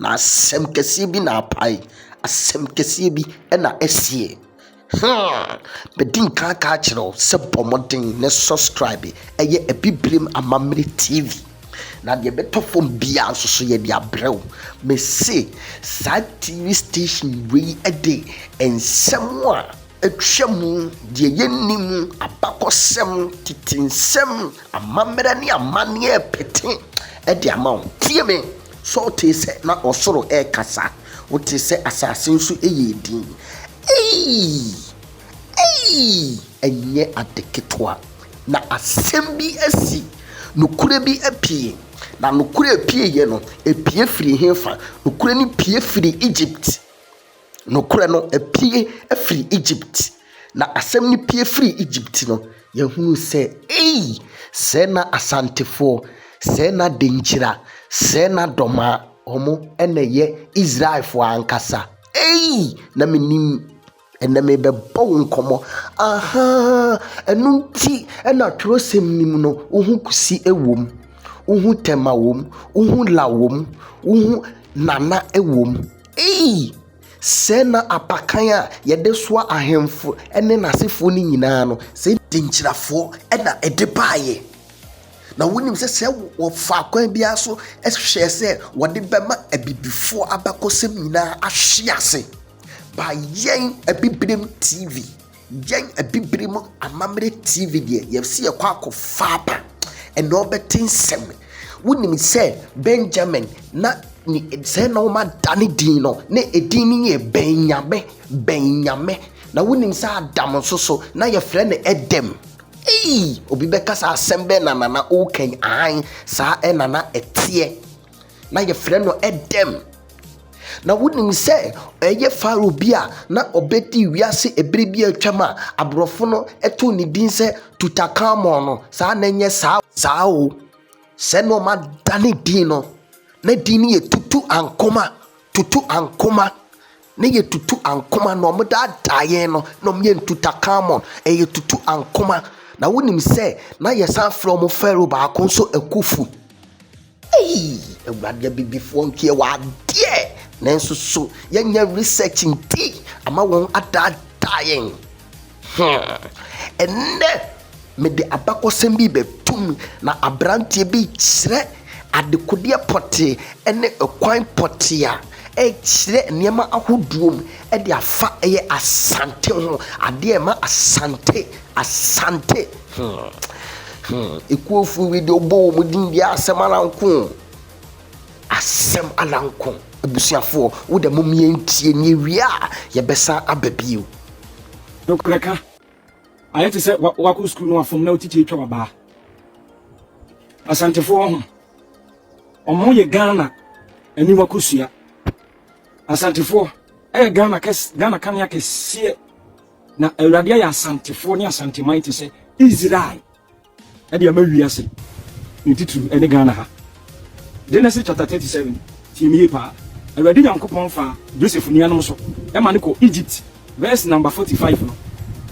Na asɛm kɛseɛ bi na apae, asɛm kɛseɛ bi na asie. Hmm, medi nkan ka akyerɛ wo sɛ bɔ mmɔden ne subscribe ɛyɛ Abibirem Amammerɛ TV. Na deɛ ɛbɛtɔ fam biara nso so yɛde abrɛ wo. Mese saa TV station wei de nsɛm a atwa mu, deɛ yɛnni mu, abakɔsɛm, tete nsɛm, amammerɛ ne amanneɛ pete de ama wo. Tie me! Saul tee sɛ na ɔsoro rekasa, wotee sɛ asase nso yɛɛ dinn. Eii! Eii! Ɛnyɛ ade ketewa. Na asɛm bi asi, nokorɛ bi apue. Na nokorɛ a ɛpueeɛ no, ɛpue firii hefa? Nokorɛ no pue firii Egypt. Nokorɛ no apue afiri Egypt. Na asɛm no pue firii Egypt no, yɛhunuu sɛ, Ei! Sɛɛ na Asantefoɔ, sɛɛ na Denkyira, sɛɛ na Dɔmaa, wɔn na ɛyɛ Israelfoɔ ankasa. Ei! Na menim, ɛnnɛ merebɛbɔ wo nkɔmmɔ. Ahaa! Ɛno nti na twerɛsɛm no mu no, wohu Kusi wom, wohu Tema wom, wohu La wom, wohu Nana wom. Ei! Sɛɛ na apakan a yɛde soa ahemfo ne n'asefoɔ no nyinaa no, sɛ. Denkyirafoɔ na ɛde baeɛ. Na wonim sɛ sɛ wɔfa kwan biara so hwɛ sɛ wɔde bɛma Abibifoɔ abakɔsɛm nyinaa ahwe ase. By Yɛn Abibirem TV. Yɛn abibire mu amammerɛ TV deɛ, yɛsi yɛkɔ akɔfa aba, ɛna ɔbɛte nsɛm. Wonim sɛ Benjamin na ne sɛ na wɔn ada ne din no, na edin no yɛ Bɛnyame, Bɛnyame. Na wonim sɛ Adam nso so, na yɛfrɛ no Edem. Ei, obi bɛka saa asɛm bɛn na nana wokan ahan saa ɛna na ɛteɛ. na yɛfrɛ no dɛm. Na wonim sɛ ɛyɛ Farao bi a na ɔbɛdi wiase ɛberɛ bi a atwam a aborɔfo no too ne din sɛ Tutankhamun no, saa na ɛnyɛ saa saa o. Sɛ na ɔma da ne din no, na din no yɛ Tutu Ankoma, Tutu Ankoma. Ne yɛ tutu ankoma na ɔmo daa daa yɛn no na ɔmo yɛ ntuta kamɔn ɛyɛ tutu ankoma na wo nim sɛ na yɛ san frɛ ɔmo fɛro baako nso akufu ei awurade abibifoɔ nkeɛ wɔ adeɛ nanso so yɛ nyɛ research nti ama wɔn adaa daa yɛn. Hmm, ɛnnɛ mede abakɔsɛm bi rebɛto mu, na aberanteɛ bi rekyerɛ adekodeɛ pɔtee ne kwan pɔtee a ɛrekyerɛ nneɛma ahodoɔ mu de afa ɛyɛ Asante ho, adeɛ a ɛma Asante, Asante. Hmm, hmm, ekuofuo wei deɛ wobɔ wɔn din deɛ asɛm ara nko. Asɛm ara nko, abusuafoɔ, wo deɛ mom yɛntie na yɛwie a yɛbɛsan aba bio. Nokorɛ ka, ayɛ te sɛ wakɔ sukuu na wafom na wo titi atwa wabaa. Asantefoɔ ho, ɔmo yɛ Ghana aniwa kosua. Asantefoɔ ɛyɛ Ghana kɛs, Ghana kanea kɛseɛ. Na Awurade ayɛ Asantefoɔ ne Asanteman te sɛ Israel. De ama wiase ne titiriw ɛne Ghana ha. Genesis chapter thirty seven tie me yie paa. Awurade Nyankopɔn fa Joseph nuanom so ma no kɔ Egypt verse number forty five no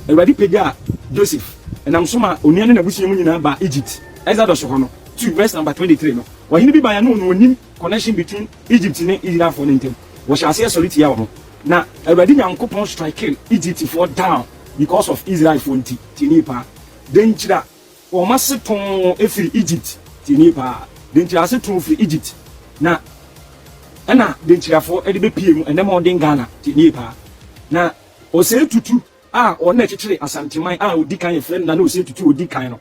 Awurade pagyaa Joseph ɛnam so ma onua ne n'abusua mu nyinaa baa Egypt Exodus hɔ no two verse number twenty three no Ɔhene bi baeɛ no na ɔnim connection between Egypt ne Israelfoɔ no ntam wɔhyɛ aseɛ sɔre tia wɔn na Awurade Nyankopɔn strikee Egyptfoɔ down because of Israelfoɔ nti tie me yie paa. Dɛn ntyira wɔn ase tɔn firi Egypt? Tie nie paa, dɛn ntyira ase tɔn firi Egypt na ɛna dɛn ntyirafoɔ de bɛpie mu ɛnɛ mɔden Ghana? Tie nie paa, na Osei Tutu a ɔno na ɛkyekyere Asanteman a ɔdi kan yɛfrɛ no Nana Osei Tutu ɔdi kan no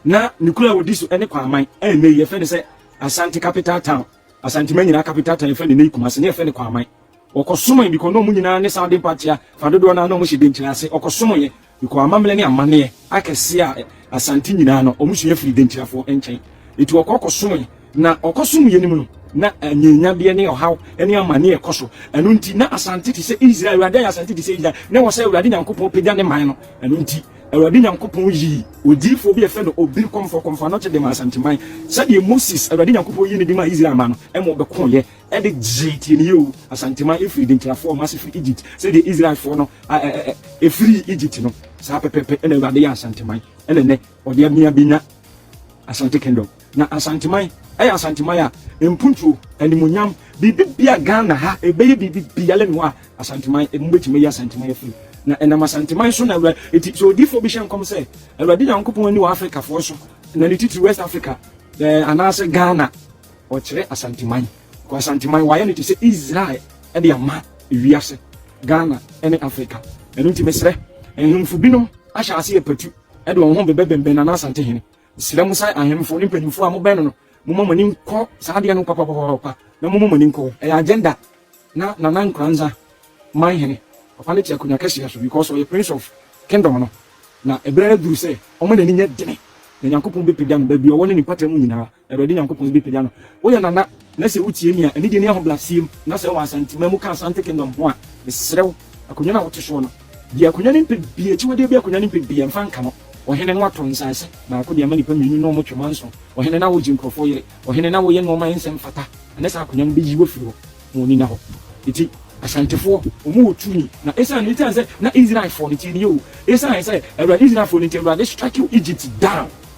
na ne kuro a ɔdi so ne Kwaman a ɛnɛ yi yɛfrɛ no sɛ Asante Capital Town, Asanteman nyinaa Capital Town yɛfrɛ no ɛnɛ yi Kumasi na yɛfrɛ no Kwaman. Ɔkɔsomee bikɔ na ɔmo nyinaa ne saa adempa tea fa dodoɔ no ara na ɔmo hyɛ denkyire ase. Ɔkɔsomeeɛ bikɔ amammerɛ ne amanneɛ akɛseɛ a ɛ Asante nyinaa no ɔmo sua firi denkyirafoɔ nkyɛn. Eti ɔkɔ kɔsomee. Na ɔkɔsomeeɛ no mu no, na anyienyadeɛ ne ɔhaw ne amanneɛ rekɔ so. Ɛno nti, na Asante te sɛ Israel. Awurade ayɛ Asante te sɛ Israel. Na ɛwɔ sɛ Awurade Nyankopɔn pagya ne man no. Ɛno nti, Awurade Nyankopɔn yii odiyifoɔ bi a yɛfrɛ no Obiri Kɔmfoɔ Kɔmfoano-Kye de maa Asanteman sɛdeɛ Moses, Awurade Nyankopɔn yii no de maa Israel man no ma wɔbɛkoeɛ de gyee tieniyɛ o, Asanteman firi Denkyirafoɔ mma ase firi Egypt, sɛdeɛ Israelfoɔ no firii Egypt no, saa pɛpɛpɛ na Awurade yɛ Asanteman, ɛna nnɛ ɔde abia bɛnya Asante Kingdom. Na Asanteman yɛ Asanteman a mpuntuo, animuonyam, biribi bia Ghana ha, ɛbɛyɛ biribi biara nni hɔ a Asanteman, ɛmu bɛtumi ayi Asanteman afiri mu. Na ɛnam Asanteman so na Awurade, ɛti sɛ odiyifoɔ bi hyɛ nkɔm sɛ, Awurade Nyankopɔn ani wɔ Afrikafoɔ so, na ne titiri West Africa, anaasɛ Ghana. Ɔkyerɛ Asanteman, kɔ Asanteman, wayɛ no te sɛ Israel de ama wiase, Ghana ne Africa. Ɛno nti mesrɛ, nhemfo binom ahyɛ ase apatu de wɔn ho bɛbɛbɛnbɛn Nana Asante Hene. Mesrɛ mo sɛ ahemfo ne mpanyimfo a mobɛn no no, momma mo ani nkɔ saa adeɛ no papapapapa na momma mo ani nkɔ hɔ. Ɛyɛ agenda na Nana Nkoranza man hene. Papa no te akonnwa kɛseɛ so because ɔyɛ Prince of Kingdom no, na ɛberɛ aduru sɛ ɔma n'ani nyɛ dene na Nyankopɔn bɛpagya no baabi a ɔwɔ ne ne mpata mu nyinaa. Awurade Nyankopɔn bɛpagya no. Woyɛ nana na sɛ wotie nea anigye ne ahobrɛaseɛ mu na sɛ wɔ Asanteman mu ka Asante Kingdom ho a, mesrɛ wo, akonnwa no a wote soɔ no, gye akonnwa no mpɛ biara, akyiwadeɛ biara akonnwa no mpɛ biara mfa nka no. Ɔhene no atɔ nsase baako de ama nnipa mmienu na wɔtwe ma nson. Ɔhene na wogye nkurɔfoɔ yere. Ɔhene na woyɛ nnoɔma a ɛnsɛ mfata. Ɛnnɛ saa akonnwa no bɛyi wo afiri hɔ ma w'ani nna hɔ. Enti Asantefoɔ, wɔwɔ tumi na ɛsiane, ɛsiane sɛ na Israelfoɔ no, tie nie o, ɛsiane sɛ Awurade Israelfoɔ no nti, Awurade strike Egypt down.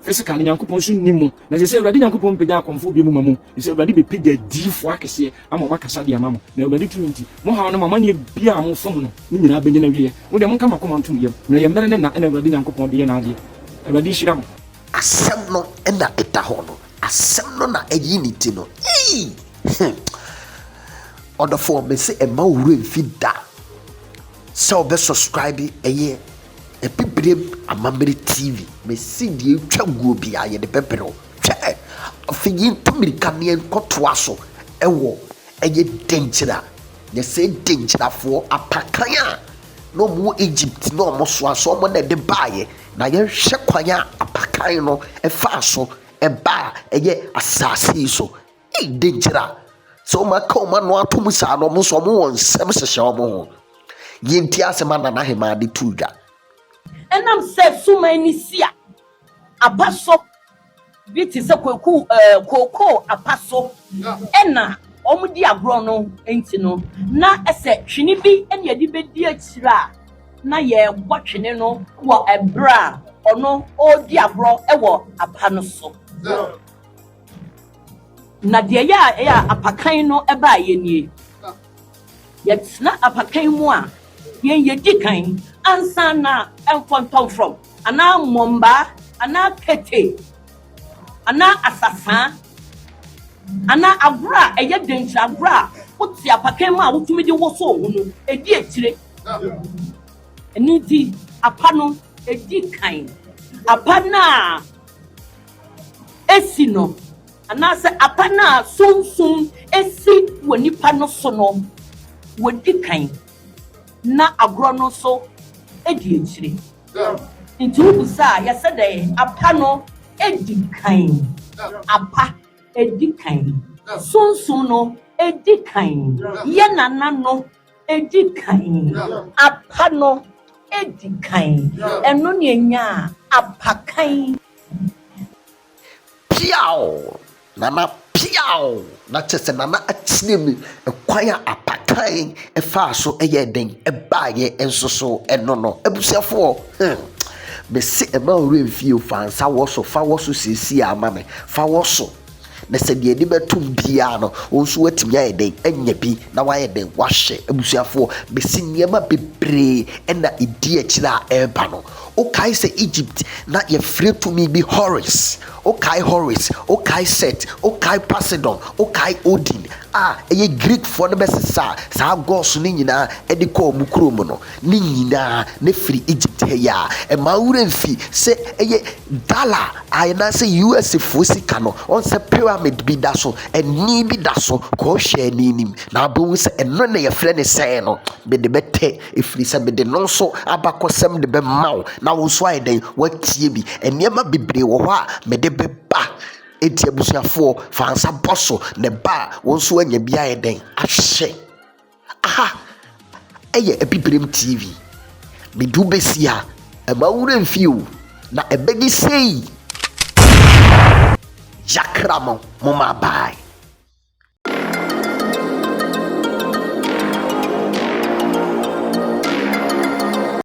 Physical no Nyankopɔn nso nni mu, na ɛsɛ sɛ Awurade Nyankopɔn pagya akɔmfoɔ bio moma mo, ɛfiri sɛ Awurade bɛpagya adiyifoɔ akɛseɛ ama wɔn akasa de ama mo, na Awurade tumi nti, mo haw no mo amanneɛ biara a mofa mu no, ne nyinaa bɛnya n'awieɛ. Mo deɛ monka mo akoma ntom yam, na ɛyɛ mmerɛ ne nna na Awurade Nyankopɔn de yɛ n'adeɛ. Awurade nhyira mo. Asɛm no na ɛda hɔ no, asɛm no na ɛyi ne ti no, eii he! Ɔdɔfoɔ, mese mma wo werɛ mfi da sɛ wobɛ subscribe ɛyɛ Abibirem amammerɛ TV. Me se deɛ ɛtwa guo biara yɛde bɛbrɛ wo. Hwɛ ɛ! Afei yɛntu mmirika na yɛnkɔtoa so wɔ ɛyɛ Denkyira. Nyɛ sɛ Denkyirafoɔ apakan a na wɔn wɔ Egypt na wɔn soa so, wɔn na ɛde baeɛ. Na yɛnhwɛ kwan a apakan no faa so baa ɛyɛ asaase yi so. Ei de gyira sɛ wɔn aka wɔn ano atom saa na wɔn nso wɔn wɔ nsɛm hyehyɛ wɔn ho yɛnti asɛm a nana hemaa de tuu dwa. Ɛnam sɛ suman ne si a apa so bi te sɛ kwaku ɛɛ kookoo apa so ɛna wɔn di agorɔ no nti no na ɛsɛ twene bi ɛna yɛde bɛdi akyire a na yɛbɔ twene no wɔ ɛberɛ a ɔno ɔredi agorɔ ɛwɔ apa no so. Na deɛ ɛyɛ a ɛyɛ a apakan no baeɛ nie. Yɛtena apakan mu a, yɛn yɛdi kan ansa na mfɔntɔmfrɔm anaa mmɔmbaa anaa kete anaa asasaa anaa agorɔ a ɛyɛ dɛnkyerɛ agorɔ a wote apakan mu a wotumi de woso wo ho no, ɛdi akyire. Ɛno nti, apa no di kan. Apa no a si no, anaasɛ apa no a Sunsum si wɔ nipa no so no, wɔdi kan, na agorɔ no nso di akyire. Nti wobisa a, yɛsɛ dɛn? Apa no di kan. Apa di kan. Sunsum no di kan. Yɛn nana no. Edi kan. Apa no edi kan. Ɛno na enyaa apakan. Piaw! Nana piaw! Na kyerɛ sɛ Nana akyerɛ mu kwan a apakan faa so yɛɛ dɛn baeɛ nso so no no. Abusuafoɔ, hmm, mese mma wo werɛ mfie o, fa nsa wɔ so, fa wɔ so seesei ara ma me, fa wɔ so. Na sɛ deɛ ani bɛtom biara no, wo nso woatumi ayɛ dɛn anya bi na woayɛ dɛn woahwɛ. Abusuafoɔ, mese nneɛma bebree na ɛdi akyire a ɛreba no. Wokae sɛ Egypt na yɛfrɛ tumi bi Horus? Wokae Horus? Wokae Set? Wokae Poseidon? Wokae Odin a ɛyɛ Greekfoɔ no bɛsesaa saa gods no nyinaa de kɔɔ wɔn kuro mu no? Ne nyinaa na ɛfiri Egypt ha yi ara. Mma wo werɛ mfi sɛ ɛyɛ Dollar anaasɛ US foɔ sika no ɔn sɛ pyramid bi da so ɛni bi da so kɔɔhwɛ ɛni nim na wobɛhu sɛ ɛno na yɛfrɛ no sɛn no mede bɛtɛ ɛfiri sɛ mede no nso abakɔsɛm de bɛma wo na wo nso ayɛ dɛn woatie bi nneɛma bebree wɔ hɔ a mede bɛba ɛti abusuafoɔ fa nsa bɔ so na ɛba a wo nso anya bi ayɛ dɛn ahwɛ. Aha yɛ Abibirem TV. Medu besi a, mma wo werɛ mfi o, na ɛbɛdi sei! Yɛakra mo, momma abae.